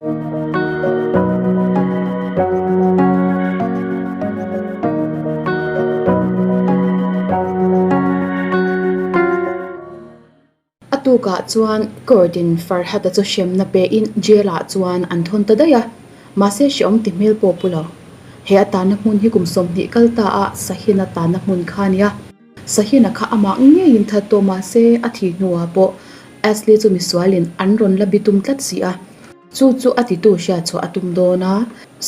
A tukah chuan Kawrdin Farhat-a chu hremna pein jail-ah chuan an thawn ta daih a, mahse hreh awm ti hmel pawh pu lo. He a tana hmun hi kum sawmhnih kal ta a Sahin-a tana hmun kha a ni a. Sahina kha a mak ngei in that tawh mah se a thih hnu ah pawh Ashley chu misual in an rawn la bi tum tlat si a. Chu chu a ti tu hria chhuah a tum dawn a,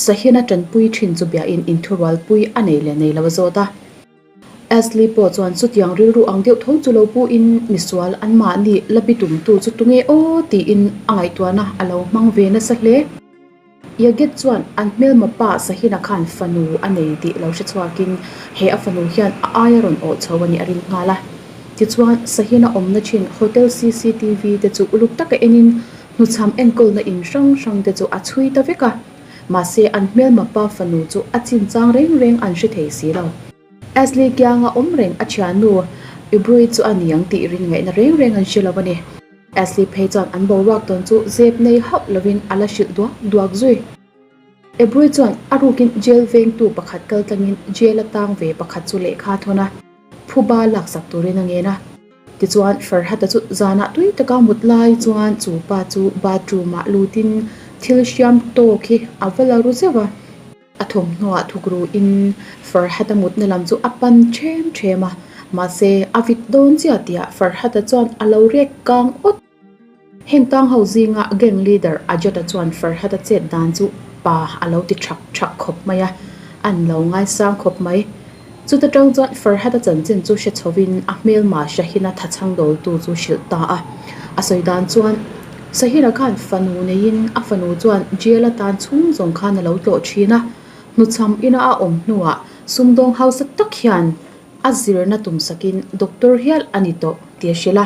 Sahina tanpui thin chu bia in in thurual pui a nei leh nei lo a zawt a. Ashley pawh chuan chutiang rilru ang deuh tho chu lo pu in misual an mah nih la bi tum tu chu tu nge aw ti in a ngaihtuah na a lo hmang ve nasa hle. Yagit chuan an hmelma pa Sahina khan fanu a nei tih lo hre chhuakin he a fanu hian a aia rawn awh chho a nih a ril nghal a. Tichuan, Sahina awmna thin hotel cctv te chu uluk taka enin hnuchham enkawlna in hrang hrang te chu a chhui ta vek a. Mahse, an hmelma pa fanu chu a chinchang reng reng an hre thei si lo. Ashley kianga awm reng a thiannu Ibrui chu a ni ang tih rin ngaihna reng reng an hre lo a ni. Ashley phei chuan an boruak tawn chu zep nei hauh lovin a la hrilh duak duak zui. Ibrui chuan a rukin jail vengtu pakhat kal tlangin jail a tang ve pakhat chu lehkha thawn a phuba laksak turin a ngen a. Tichuan Farhat-a chu zanah tui taka mut lai chuan chu pa chu bathroom-ah lutin thil hriam tawk hi a va la ru zeuh a. A thawmhnaw thukru in Farhata mutna lam chu a pan ṭhem ṭhem a, mahse a vit dawn chiah tih ah Farhata chuan a lo rek kang awt. Heng tang ho zinga gang leader Ajata chuan Farhata chet dan chu pa a lo ti ṭhak ṭhak khawp mai a, an lo ngaisang khawp mai. Chuta tang chuan Farhata chanchin chu hre chhoviin a hmelma Shahina tha changdawltu chu hrilh ta a. A sawi dan chuan, Shahina khan fanu neiin a fanu chuan jail atan chhung zawng khan a lo tlawh thin a. Hnuchham ina a awm hnuah sumdawng hausa tak hian a zirna tum sakin doctor hial a ni tawh tia hrilh a.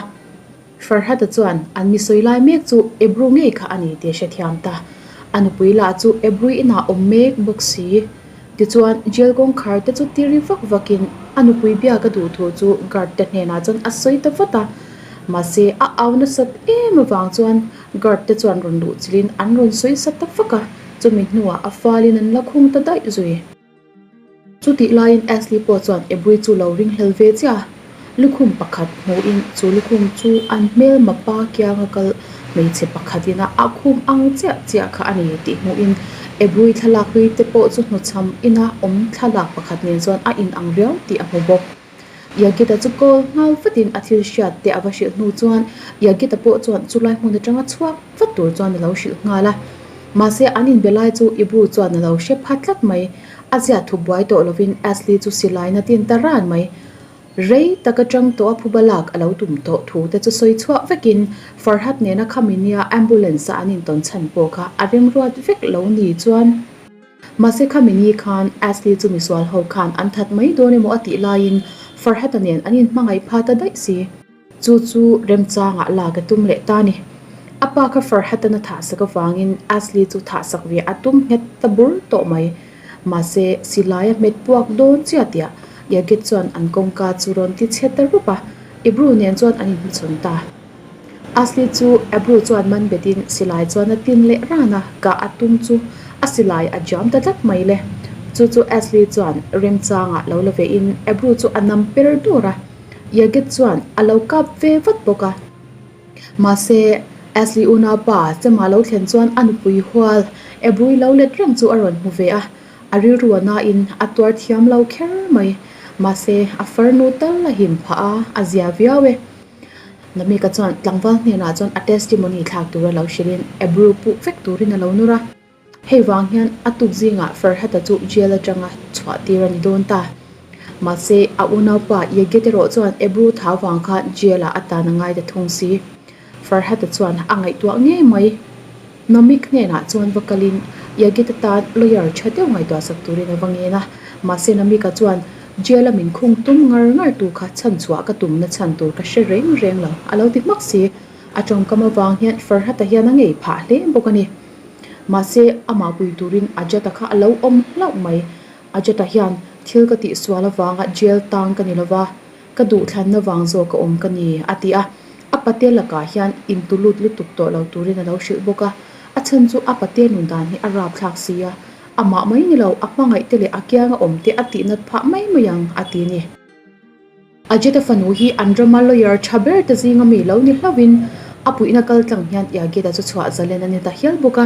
Farhata chuan, An mi sawi lai mek chu Ebru ngei kha a ni tih a hrethiam ta. A nupui lah chu Ebru inah awm mek bawk si. Tichuan, jail kawngkhar te chu tiri vak vakin a nupui biaka duh thu chu guard te hnenah chuan a sawi ta vat a. Mahse, a au nasat em avang chuan guard te chuan rawn luh chilhin an rawn sawi sa ta vak a. Chumi hnuah a falin an la khung ta daih zui. Chutih laiin Ashley pawh chuan Abby chu lo ringhlel ve chiah a, lukhum pakhat hmuhin chu lukhum chu an hmel mapa kianga kal hmeichhe pakhat ina a khum ang chiah chiah kha a ni tih hmuhin Abby thlalak hlui te pawh chu hnu chham ina awm thlalak pakhat nen chuan a inang riau tih a hmu bawk. Yagita chu kawl nghal vatin a thil hriat te a va hrilh hnu chuan Yagita pawh chuan chu lai hmun atanga chhuak vat tur chuan a lo hrilh nghal a. Mahse an inbe lai chu i bu chuan a lo hre phat tlat mai. A ziah thup buai tawh lovin Ashley chu silaina tin ta ran mai. Rei tak atang tawh a phu balak a lo tum tawh thu te chu sawi chhuah vekin Farhad nena khami nia ambulance-ah an intawn chhan pawh kha a remruat vek lo ni chuan, Mahse khami ni khan Ashley chu misual ho khan an that mai dawn emaw a tih laiin Farhata nen an inhmangaih pha ta daih si. Chu chu remchangah la ka tum leh ta ni. A pa kha Farhat an a thahsak avangin Ashley chu thahsak ve a tum nghet ta bur tawh mai. Mahse silai a hmet puak dawn chiah tia Yaget chuan an kawngka chu rawn ti chhiat ta rup a. Ibru nen chuan an inhmachhawn ta. A si chu Abu chuan man bet in silai chuan a tin leh ran a, kah a tum chu a silai a jam ta tlat mai le. Chu chu Ashley chuan remchang ah lo la ve in Abu chu a nam per dawr a, Yagit chuan a lo kap ve vat bawk a. Mahse Ashley unaupa chema lo thlen chuan a nupui hual Abu-i lo let reng chu a rawn hmu ve a, a rilru a na in a tuar thiam lo kher mai. Mahse a farnu tal a him phah a, a zia viau e. La Mika chuan tlangval hnenah chuan a testimony thlak tur a lo hrilhin approve puh vek turin a lo nur a. Hei vang hian a tuk zingah Ferhat-a chu jail atanga chhuah tir a ni dawn ta. Mahse, a unaupa Yegget erawh chuan approve thau vang khan jail-ah a tan a ngai ta thung si. Ferhat-a chuan a ngaihtuah ngei mai. Nomik hnenah chuan va kalin Yagita tan lawyer tha deuh ngaihtuahsak turin a va ngen a. Mahse Nomika chuan, Jail-a min khung tum ngar ngar tu kha chhanchhuah ka tumna chhan tur ka hre reng reng lo a lo ti hmak si. A tawngkam avang hian Farhat-a hian a ngei phah hle bawk a ni. Mahse amah pui turin Ajat-a kha a lo awm hlauh mai. Ajat-a hian thil ka tihsual avanga jail tang ka ni lo va, Ka duh thlanna vang zawk a awm ka ni, a ti a. A pate lakah hian intu lut lutuk tawh lo turin a lo hrilh bawk a. A chhan chu a pate nun dan hi a rapthlak si a, amah mai ni lo, a hmangaih te leh a kianga awm te a tih nat phah mai mai ang, a ti a ni. Ajit-a fanu hi an rama lawyer tha ber te zinga mi lo ni hlauhin a puihna kal tlang hian Yagita chu chhuah zalen a ni ta hial bawk a.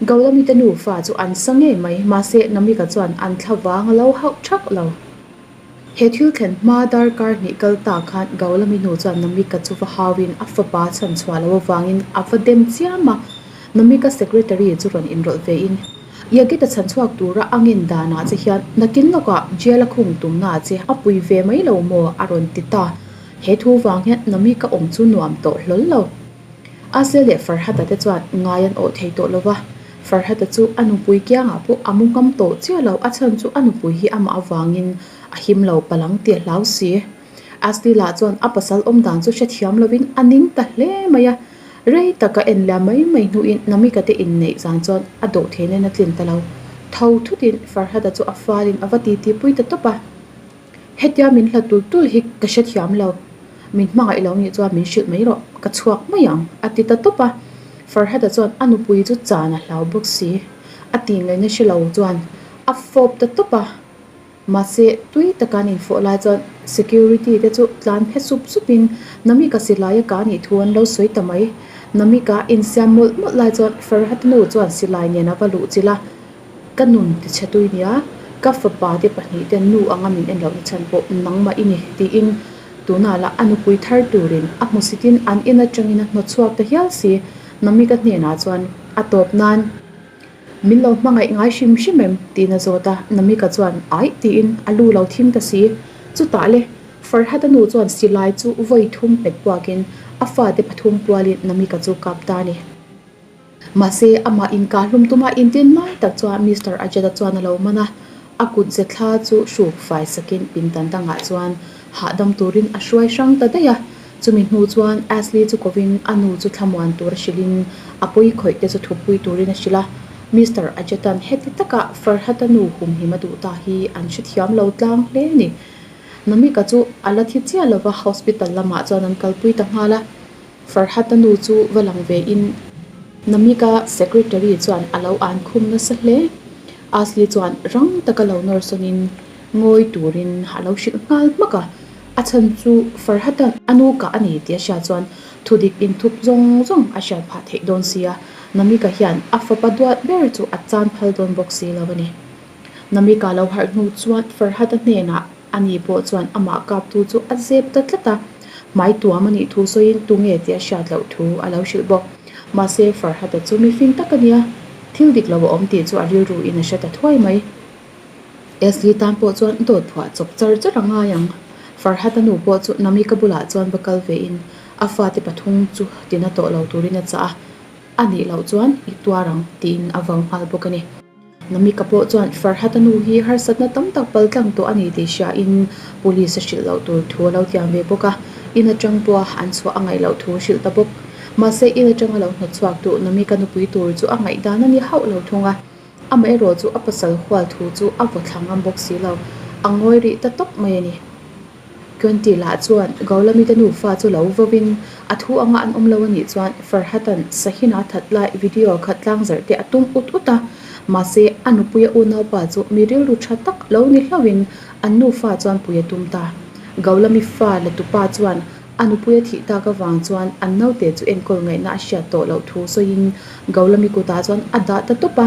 Gaulamita nufa chu an sa ngei mai, mahse Namika chuan an thla vang lo hauh thak lo. He thil thlen hma dar kar hnih kal ta khan Gaulami nu chuan Namika chu va hau in a fapa chhan chhuah lo avangin a va dem chiam a. Namika secretary chu rawn inrawlh ve in, Yagita chhan chhuak tura a ngen dan ah che hian nakin lawkah jail a khung tum na che a pui ve mai lo maw a rawn ti ta. He thu vang hian Namika awm chu nuam tawh hlawl lo. Asia leh Farhata te chuan ngai an awh thei tawh lova, Farhata chu a nupui kiangah pawh a mu ngam tawh chiah lo, a chhan chu a nupui hi amah avangin a him lo palang tih a hlau si. Astila chuan a pasal awm dan chu hrethiam lovin a ning ta hle mai a, rei taka en liam mai mai hnuin Namika te inneih zan chuan a dawh thei nen a tlin ta lo. Tho thutin Farhata chu a falin a va titi pui ta tawp a. Hetia min hla tul tul hi ka hre thiam lo. Min hmangaih lo nih chuan min hrilh mai rawh, ka chhuak mai ang, a ti ta tawp a. Farhata chuan a nupui chu chan a hlau bawk si. A ti ngei na hre lo chuan a fawp ta tawp a. Mahse tui taka an in fawh lai chuan security te chu tlan phe sup sup in Namik a si lai a ka nih thu an lo sawi ta mai. Namik a insiam mawlh mawlh lai chuan Farhata nu chuan silai nen a va luh chilh a, Ka nun ti chhe tui nia, ka fapa te pahnih ten nu anga min en loh na chhan pawh nangmah i ni tiin tuna lah a nupui thar turin a hmu si tin an en atangin a hnawchhuak ta hial si. Namika hnenah chuan a tawp nan, Min lo hmangaih ngai hrim hrim em? tiin a zawt a, Namika chuan aih tiin a lu lo thim ta si. Chutah le, Farhata nu chuan silai chu vawi thum hmet buakin a fate pathum pualin Namika chu kap ta a ni. Mahse, amah inkah hlum tuma intin mai tak chuan Mister Ajeta chuan a lo man a, a kut ze thla chu hruk fai sakin pindan dangah chuan hahdam turin a hruai hrang ta daih a. Chumi hnu chuan Ashley chu kovin a nu chu thlamuan tur a hrilhin a pawi khawih te chu thupui turin a hrilh a. Mister Ajeta-n heti taka Farhat-a nu humhim a duh ta hi an hre thiam lo tlang hle a ni. Namika chu a la thi chiah lova hospital lamah chuan an kalpui ta nghal a. Farhat-a nu chu va lang ve in Namika secretary chuan a lo an khum nasa hle. Asli chuan rang taka lo nawrsawn in ngawi turin a lo hrilh nghal hmak a, a chhan chu Farhat-a a nu kah a ni tia hriat chuan thu dik inthup zawng zawng a hriat phah theih dawn si a, Namika hian a fapa duat ber chu a chan phal dawn bawk si lo a ni. Namika lo harh hnu chuan Farhat-a hnenah Ani pawh chuan amah kaptu chu a zep ta tlat a, hmai tuam anih thu sawiin tunge tia hriat loh thu a lo hrilh bawk. Mahse Farhata chu mifing tak ania, thil dik lo a awm tih chu a rilruin a hre ta thuai mai. Asli tan pawh chuan dawt phuah chawp char char a ngai ang. Farhata nu pawh chu Namika bulah chuan va kal vein a fate pathum chu tina tawh lo turin a chah a, anih loh chuan i tuar ang tiin a vau nghal bawk ani. Namika pawh chuan Farhat-a nu hi harsatna tam tak pal tlang tawh a ni tih hria in Police-a hrilh loh tur thu a lo tiam ve bawk a. In atang pawha an chhuah a ngaih loh thu a hrilh ta bawk. Mahse, in atanga lo hnawtchhuak tu Namika nupui tur chu a ngaih dan a ni hauh lo thung a. Amaherawhchu a pasal hual thu chu a vawthlang ngam bawk si lo. A ngawi rih ta tawp mai a ni. Twenty lah chuan Gaulamita nufa chu lo vawin a thu anga an awm lo a nih chuan Farhatan Sahina that lai video khat tlangzarh te a tum ut ut a. Mahse, a nupuia unaupa chu mi rilru tha tak lo ni hlauhin an nufa chuan pui a tum ta. Gaulamifa leh tupa chuan a nupuia thih tak avang chuan an naute chu enkawl ngaihna a hriat tawh loh thu sawiin Gaulami kutah chuan a dah ta tawp a.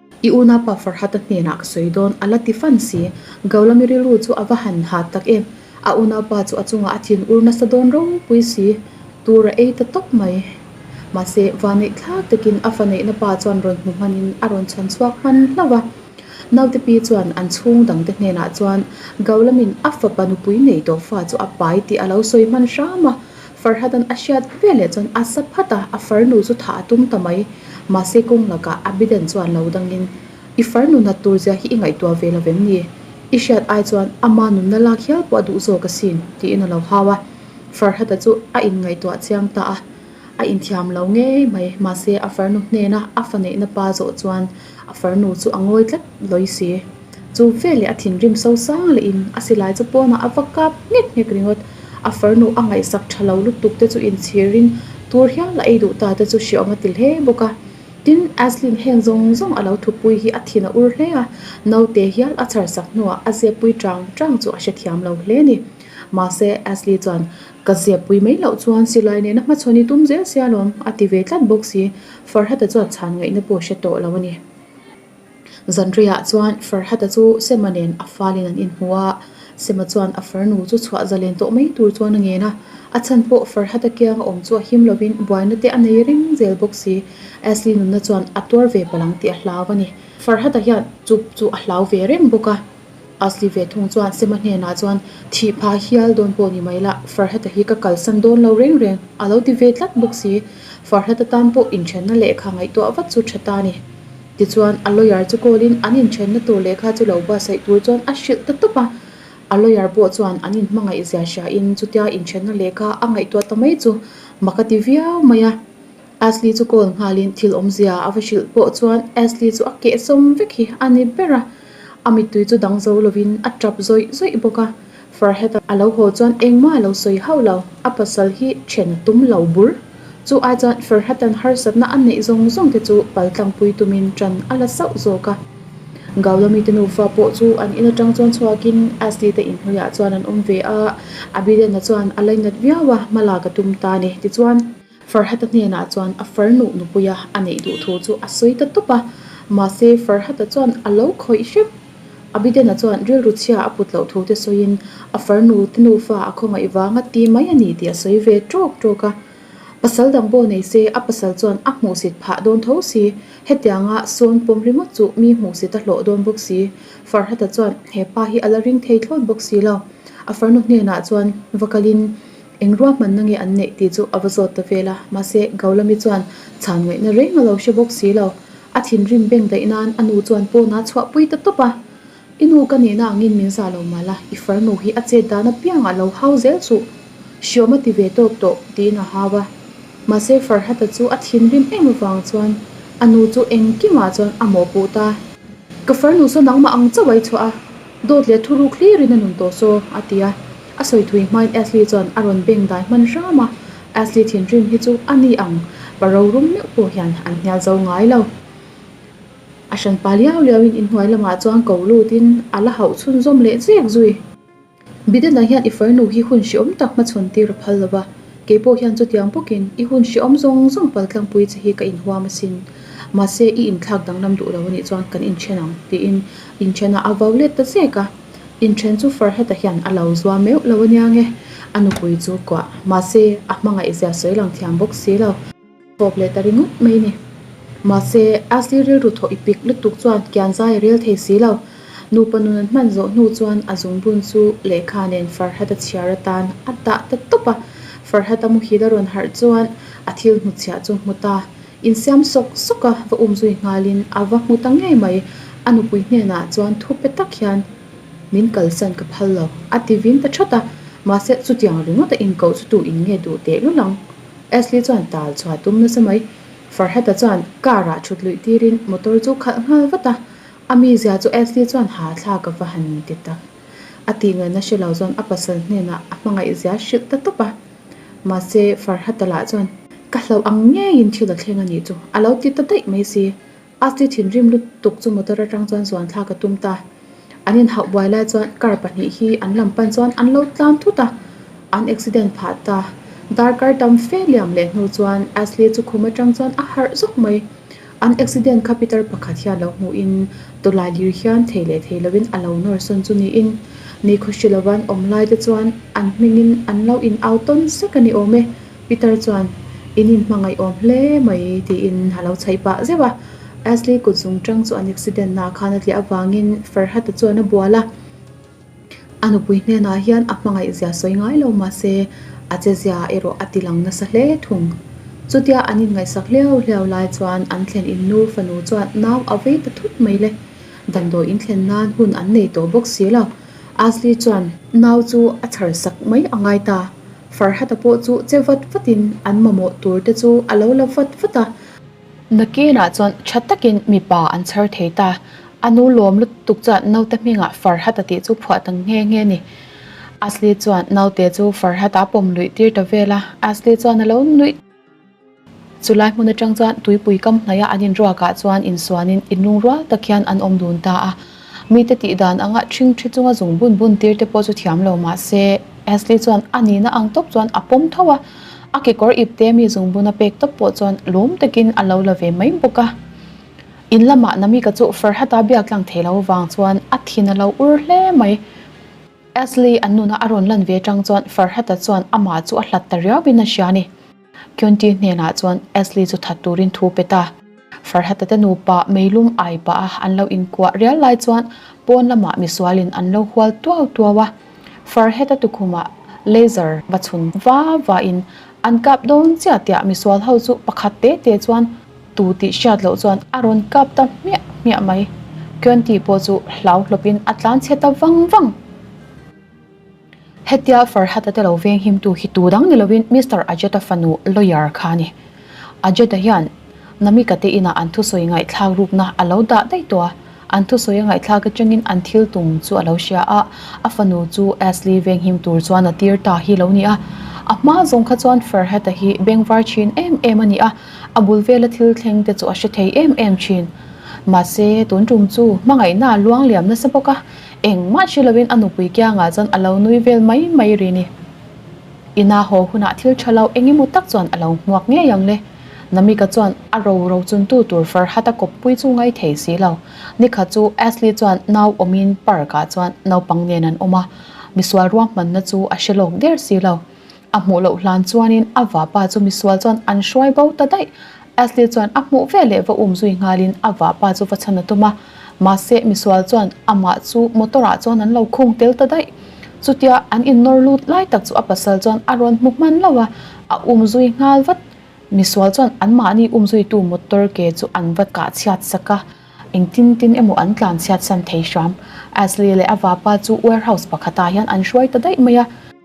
I una pa Farhat-a hnenah ka sawi dawn, a la ti fan si. Gaulami rilru chu a va han hat tak em. A una pa chu a chungah a thin ur nasa dawn ropui si. Tur a ei ta tawp mai. Mahse, vaneih thlak takin a faneihna pa chuan rawn hmu hmanin a rawn chhan chhuak hman hlauh a. Naute pi chuan an chhung dangte hnenah chuan Gaulamin a fapa nupui nei tawh fa chu a pai tih a lo sawi hman hram a. Farhatan a hriat ve leh chuan a sa phat a, a far nu chu thah a tum ta mai. Mahse kawng lakah a Biden chuan lo dangin, I far nu nat tur zia hi i ngaihtuah ve lovem ni? I hriat ai chuan ama nunna lak hial pawh a duh zawk a sin, tiin a lo hau a. Farhata chu a inngaihtuah chiang ta a, a inthiam lo ngei mai. Mahse a far nu hnena a faneihna pa zawh chuan. A far nu chu a ngawi tlat lawi si. Chu veleh a thinrim so sang leh in a silai chu pawnah a va kap nghek nghek ringawt. A far nu a ngaihsak tha lo lutuk te chu in chhir in tur hial a ei duh ta te chu hre awm a ti hle bawk a. Tin, Aslin heng zawng zawng a lo thu pui hi a thin a ur hle a. Naute hial a chhar sak hnuah a zia pui trang trang chu a hre thiam lo hle ni. Mahse, Asli chuan, Ka zia pui mai loh chuan silai nena hmachhawn i tum zel sialawm a ti ve tlat bawk si. Farhata chuan chhan ngaihna pawh hre tawh lo a ni. Zanriah chuan Farhata chu Sema nen a fâl in an inhmu a, Sema chuan a far nu chu chhuah zalen tawh mai tur chuan a ngen a. A chhan pawh Farhata kiang a awm chu a him lo in buaina te a nei reng zel bawk si. Ashley nunna chuan a tuar ve palang tih a hlau a ni. Farhata hian chup chu a hlau ve reng bawk a. A si ve thung chuan Sema hnenah chuan, Thih pha hial dawn pawh ni mai la, Farhata hi ka kalsan dawn lo reng reng, a lo ti ve tlat bawk si. Farhata tan pawh inthenna lehkha ngaihtuah vat chu tha ta ni. Tichuan, a lawyer chu call-in an inthenna tur lehkha chu lo basaih tur chuan a hrilh ta tawp a. A lawyer pawh chuan an inhmangaih zia hriain chutia inthenna lehkha a ngaihtuah ta mai chu maka ti viau mai a. Ashley chu call nghalin thil awmzia a va hrilh pawh chuan Ashley chu a kehsawm vek hi a ni ber a, a mittui chu dang zo lovin a tap zawih zawih bawk a. Farhat a lo haw chuan engmah a lo sawi hauh lo, a pasal hi then a tum lo bur. Chu ai chuan Farhat-a'n harsatna a neih zawng zawng te chu pal tlangpui tumin tan a la sauh zawk a. Gaulo mite nufa pawh chu an in atang chuan chhuakin Ashley te inhnuiah chuan an awm ve a, Abiden-a chuan a la inat viau a, hmalak a tum ta a ni. Tichuan. Farhata hnenah chuan a far nuh nupuia a neih duh thu chu a sawi ta tawp a, mahse Farhata chuan a lo khawih hrep. Abidena chuan rilru chhia a put loh thu te sawiin a far nu te nufa a khawngaih vanga ti mai a ni tih a sawi ve trawk trawk a. Pasal dang bo nei se a pasal chuan a hmuhsit phah dawn tho si, hetianga sawn pawm ringawt chu mi hmuhsit a hlawh dawn bawk si. Farhata chuan he pa hi a la ring thei thlawt bawk si lo. A farnu hnenah chuan va kalin. Eng ruahman na nge an neih tih chu a va zawt ta vel a, mahse Gaulami chuan chhan ngaihna reng a lo hre bawk si lo. A thinrim beng daih nan a nu chuan pawnah a chhuah pui ta tawp a, I nu ka nihna angin min za lo mal a, i far nu hi a chet dan apiang a lo hau zel chuh, hriawm a ti ve tawk tawh tiin a hau a. Mahse Farhata chu a thinrim em avang chuan a nu chu engkimah chuan a mawhpuh ta. Ka farnu saw nangmah ang chauh a i chhuah a, dawt leh thuru clear in a nun tawh saw a ti a, A sawi thui hmain Ashley chuan a rawn beng dai hman hram a, Ashley thinrim hi chu a ni ang, pa rorum meuh pawh hian an hnial zo ngai lo. A hran pa liau liauin inhnuai lamah chuan ko lutin a la hauh chhun zawm leh chek zui. Bidena hian i fainu hi hun hriawm tak hma chhun tir a phal lo va, kei pawh hian chutiang bawkin i hun hriawm zawng zawng pal tlangpui che hi ka inhuam asin, mahse i inthlak danglam duh lo anih chuan kan inthen ang, tiin inthen a, a vau let ta zek a. Inthen chu far heta hian a lo zuam meuh lo a nia nge, a nupui chu kuah. Mahse, a hmangaih zia sawi lang thiam bawk si lo. Chhawp leh ta ringawt mai ni. Mahse, Ashley rilru thawh ipik lutuk chuan Kianzai a rel thei si lo. Nupa nun an hman zawh hnu chuan a zum bun chu lehkha nen Farhat a chhiar atan a dah ta tawp a. Farhat a muhil a rawn harh chuan a thil hmuchhiah chu hmu ta. In siam sawk sawk a va um zui nghal in a va hmu ta ngei mai. A nupui hnen ah chuan thu pe tak hian min kalsan ka phal lo. A ti vin ta that a, mahse chutiang ringawt a inkoh chu tu in nge duh tehlul ang. Ashley chuan tal chhuah tum nasa mai. Farhat a chuan car ah thut luih tir in motor chu khalh nghal vat a. A mi zia chu Ashley chuan ha thlak a va han ti tak. A tih ngai na hre lo chuan a pasal hnen ah a hmangaih zia hrilh ta tawp a. Mahse, Farhata lah chuan, Ka hlauh ang ngeiin thil a thleng a nih chu, a lo ti ta daih mai si. A ti thinrim lutuk chu motor atang chuan zuan thlak a tum ta. An inhauh buai lai chuan car pahnih hi an lam pan chuan an lo tlan thut a, an accident phah ta. Darkar tam fe liam leh hnu chuan Ashley chu khum atang chuan a harh zawk mai. An accident kha Peter pakhat hian lo hmuh in Tawlai lir hian thei leh thei lo in a lo nawr sawn chu ni in ni khaw hrilh lo an awm lai te chuan an hming in an lo in au tawn sek a ni awm e. Peter chuan in in hmangaih awm hle mai ti in a lo chhaih pah zeuh a. Ashley kutzung chang chu an accident na khan a tliah avang in Farhat a chuan a bual a. A nupui hnenah hian a hmangaihzia sawi ngai lo mahse, a chezia erawh a tilang nasa hle thung. Chutia an inngaihsak hliau hliau lai chuan an thlen in nu fanu chuan nau a vei ta thut mai le. Damdawi in thlen nan hun an nei tawh bawk si lo. Asli chuan. Nau chu a chhar sak mai a ngai ta. Farhata pawh chu che vat vatin an mamawh tur te chu a lo la vat vat a. Nakinah chuan tha takin mipa an chhar thei ta. A nu lawm lutuk chuan naute hmingah Farhat a tih chu phuah ta nghe nghe ni. Asli chuan naute chu Farhat a pawm luih tir ta vel a, Asli chuan a lo nuih ta. Chu lai hmun atang chuan tuipui kam hnaih a an inruak ah chuan insuanin i nung rual tak hian an awm dun ta a. Mite tih dan anga thing thi chunga zung bun bun tir te pawh chu thiam lo mah se, Ashley chuan a nihna ang tawp chuan a pawm tho a. A kekawr ip te mi zung buna pek tawp pawh chuan lum takin a lo la ve mai bawk a. In lamah Namika chu Farhat-a biak tlang thei lo vang chuan a thin a lo ur hle mai. Ashley an nuna a rawn lan ve tang chuan Farhat-a chuan amah chu a hlat ta riau in a hria a ni. Kyunti hnenah chuan Ashley chu that turin thu pet a. Farhata te nupa meilum ai pah a an lo inkuah rial lai chuan pawn lamah misualin an lo hual tuau tuau a. Farheta tukhumah laser va chhun va va in an kap dawn chiah tiah misual ho chu pakhat te te chuan tu tih hriat loh chuan a rawn kap ta hmiah hmiah mai. Kyunti pawh chu hlau hlawpin a tlan chhe ta vang vang. Hetia Farhat-a te lo venghimtu hi tu dang ni lovin Mister Ajeta fanu lawyer kha a ni. Ajeta hian Namika te inah an thusawi ngaihthlak rukna a lo dah daih tawh a, an thusawi a ngaihthlak atangin an thil tum chu a lo hria a, a fanu chu Asli venghim tur chuan a tir ta hi lo ni a. A hma zawng kha chuan Farhat-a hi bengvar thin em em a ni a, a bul vela thil thleng te chu a hre thei em em thin. Mahse, tun tum chu hmangaihna a luang liam nasa bawk a, Engmah ṭhi loin a nupui kiangah chuan a lo nui vel mai mai rin i. Ina haw hunah thil ṭha lo eng emaw tak chuan a lo hmuak ngei ang le. Namika chuan a ro ro chuntu tur Farhat-a kawppui chu ngai thei si lo. Nikhat chu Ashley chuan nau awmin park-ah chuan naupang nen an awm a, misual ruahmanna chu a hre lawk der si lo. A hmuh loh hlan chuanin a vapa chu misual chuan an hruai bo ta daih. Ashley chuan a hmuh ve leh va um zui nghalin a vapa chu va chhan a tum a. Mahse, misual chuan amah chu motor ah chuan an lo khung tel ta daih. Chutia an innawr lut lai tak chu a pasal chuan a rawn hmu hman lo a, a um zui nghal vat. Misual chuan anmahni um zuitu motor ke chu an va kah chhiat sak a, engtin tin emaw an tlan chhiat san thei hram. Ashley leh a vapa chu warehouse pakhatah hian an hruai ta daih mai a.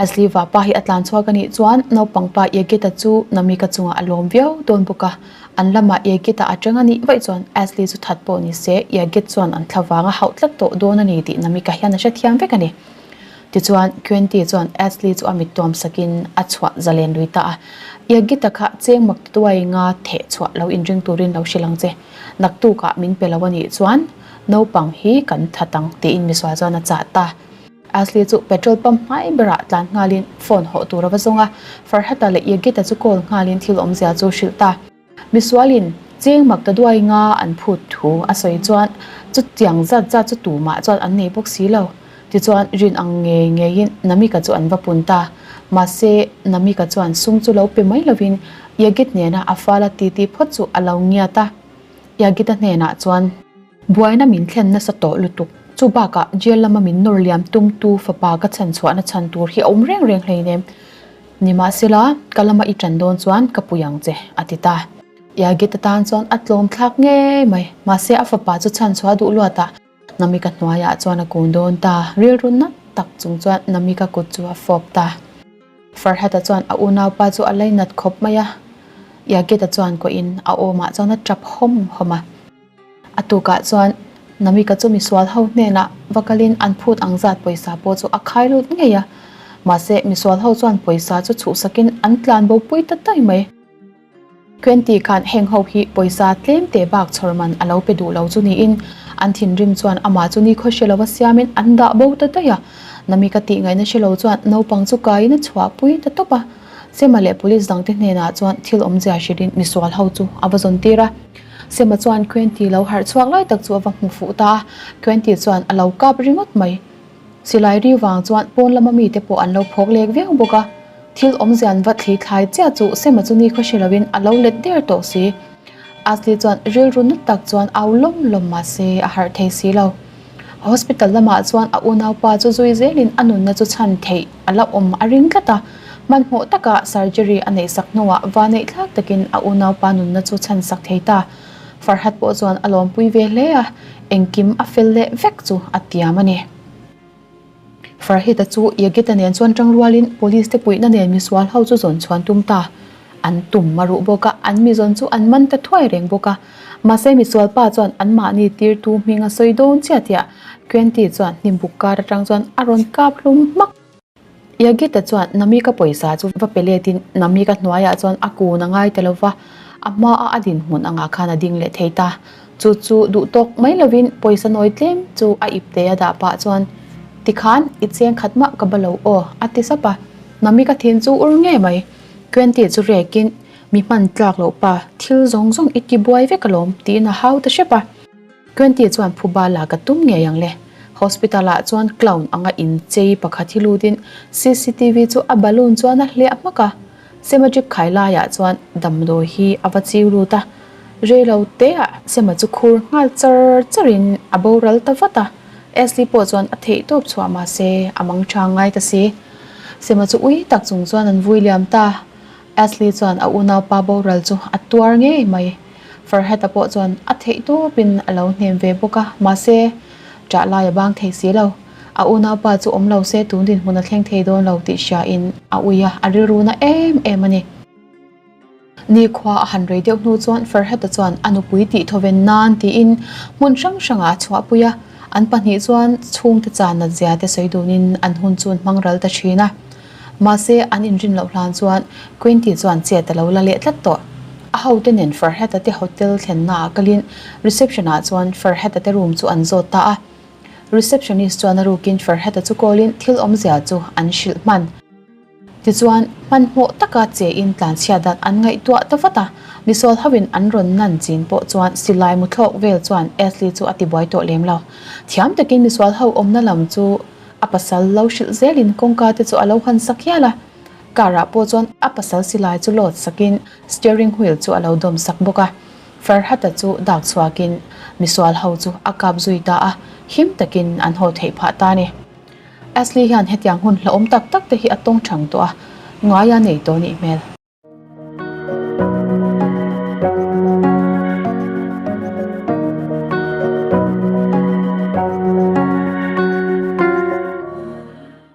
Asli vapa hi a tlan chhuak a nih chuan naupang pa Yagita chu Namika chungah a lawm viau dawn bawk a. An lamah Yagita a teng a nih vaih chuan Asli chu that pawh ni se, Yagit chuan an thla vanga hauh tlat tawh dawn a ni tih Namika hian a hre thiam vek a ni. Tichuan, Kyanti chuan Asli chu a mit tuam sakin a chhuah zalen lui ta a. Yagita kha cheng mak tutuai i nga theh chhuah lo inring turin lo hrilh ang che. Naktukah min pe lo a nih chuan naupang hi kan that ang tiin Misual chuan a chah ta. Asli chu petrol pump hmai berah tlan nghalin phone hawh tur a va zawng a, Farhata leh Yagita chu call nghalin thil awmzia chu hrilh ta. Misualin cheng mak ta duai nga an phut thu a sawi chuan chutiang zat zat chu tumah chuan an nei bawk si lo. Tichuan rin ang ngei ngeiin Namika chu an va pun ta. Mahse, Namika chuan sung chu lo pe mai lovin Yagit nena a fala ti ti phawt chu a lo ngiat a. Yagita hnenah chuan. Buaina min thlen nasa tawh lutuk. Chu bakah jail lama min nawr liam tumtu fapa ka chhan chhuahna chhan tur hi a awm reng reng hlein em? Ni mah se la, ka lama i tan dawn chuan ka pui ang che, a ti ta. Yagit atan chuan a tlawm thlak ngei mai. Mahse a fapa chu chhan chhuah duh luatah Namika hnuaiah chuan a kun dawn ta. Rilru nat tak chung chuan Namika kut chu a fawp ta. Farhata chuan a unaupa chu a lei nat khawp mai a. Yagita chuan kuahin a awmah chuan a tap hawm hawm a. A tukah chuan Namika chu misual ho hnenah va kalin an phut ang zat pawisa pawh chu a khai lut ngei a. Mahse, misual ho chuan pawisa chu chhuhsakin an tlan bo pui ta tai mai. Twenty khan heng ho hi pawisa tlem teh bak chhawr man a lo pe duh lo chu niin an thinrim chuan amah chu nikhaw hre lova siamin an dah bo ta daih a. Namika tihngaihna hre lo chuan naupang chu kaiin a chhuah pui ta tawp a. Sema leh police dangte hnenah chuan thil awmzia hrilhin misual ho chu a va zawn tir a. Sema chuan Khuenti lo harh chhuak lai tak chu a va hmu fuh ta a, Khuenti chuan a lo kap ringawt mai. Silai ri vang chuan pawn lama mite pawh an lo phawk lek viau bawk a, thil awm zian va thli thlai chiah chu Sema chu ni khaw hre lo in a lo let der tawh si. Asli chuan rilru nut tak chuan au lawm lawm mahse a harh thei si lo. Hospital lamah chuan a unaupa chu zui zelin a nunna chu chhan theih a la awm a ring tlat a. Hmanhmawh takah surgery a neihsak hnuah vaneih thlak takin a unaupa nunna chu chhan sak thei ta. Farhat pawh chuan a lawmpui ve hle a, engkim a fel leh vek chu a tiam a ni. Farhita chu Yagita nen chuan tang rualin police te puihna nen misual ho chu zawn chhuan tum ta an tum a ruh bawk a, an mizawn chu an man ta thuai reng bawk a. Mahse misual pa chuan anmahni tirtu hming a sawi dawn chiah tia Kyanti chuan hnim buk kar atang chuan a rawn kap hlum hmak. Yagita chuan Namika pawisa chu va pe letin Namika hnuaiah chuan a kun a ngai ta lo va, a hma a a dinhmun angah khan a ding leh thei ta. Chu chu duhtawk mai lovin pawisa nawi tlem chu a ip te a dah pah chuan, Tikhan i cheng khat mah ka ba lo aw, a ti sap a. Mami ka thin chu ur ngei mai. Twenty chu rekin, Mi hman tlak loh pa, thil zawng zawng i ti buai vek alawm, tiin a hau ta hrep a. Twenty chuan phuba la ka tum ngei ang le. Hospital ah chuan clown anga inchei pakhat hi lutin CCTV chu a balloon chuan a hliah hmak a. Sema trip khai laiah chuan damdawi hi a va chiu lut a, reilo teah Sema chu khur nghal char char in a boral ta vat a, Ashley pawh chuan a theih tawp chhuah mahse a mangṭha ngai ta si. Sema chu ui tak chung chuan an vui liam ta, Ashley chuan a unaupa boral chu a tuar ngei mai. Farhata pawh chuan a theih tawp in a lo hnem ve bawk a, mahse ṭah lai a bang thei si lo. A unaupa chu awm lo se tun dinhmun a thleng thei dawn lo tih hria in a ui a, a rilru na em em a ni. Nikhua a han rei deuh hnu chuan Ferhata chuan a nupui tih thawven nan tiin hmun hrang hrang ah a chhuahpui a, an pahnih chuan chhungte chan nat zia te sawi dun in an hun chu an hmang ral ta thin a. Mahse an inrin loh hlan chuan Quenty chuan chet a lo la leh tlat tawh. A hote nen Ferhata te hotel thlenna ah kalin reception ah chuan Ferhata te room chu an zawt ta a, Receptionist chuan a rukin Farhata chu kawlin thil awmzia chu an hrilh hman. Tichuan, hmanhmawh taka che in tlanchhiat dan an ngaihtuah ta vat a. Misawl hovin an rawn nan chin pawh chuan silai muthlawk vel chuan Ashley chu a ti buai tawh lem lo. Thiam takin misual ho awmna lam chu a pasal lo hrilh zelin kawngka te chu a lo han sak hial a. Car-ah pawh chuan a pasal silai chu load sakin steering wheel chu a lo dawm sak bawk a. Farhata chu dak chhuakin misual ho chu a kap zui ta a, him takin an haw theih phah ta ni. Ashley hian hetiang hun hlauhawm tak tak te hi a tawng chang tawh a, ngai a nei tawh anih hmel.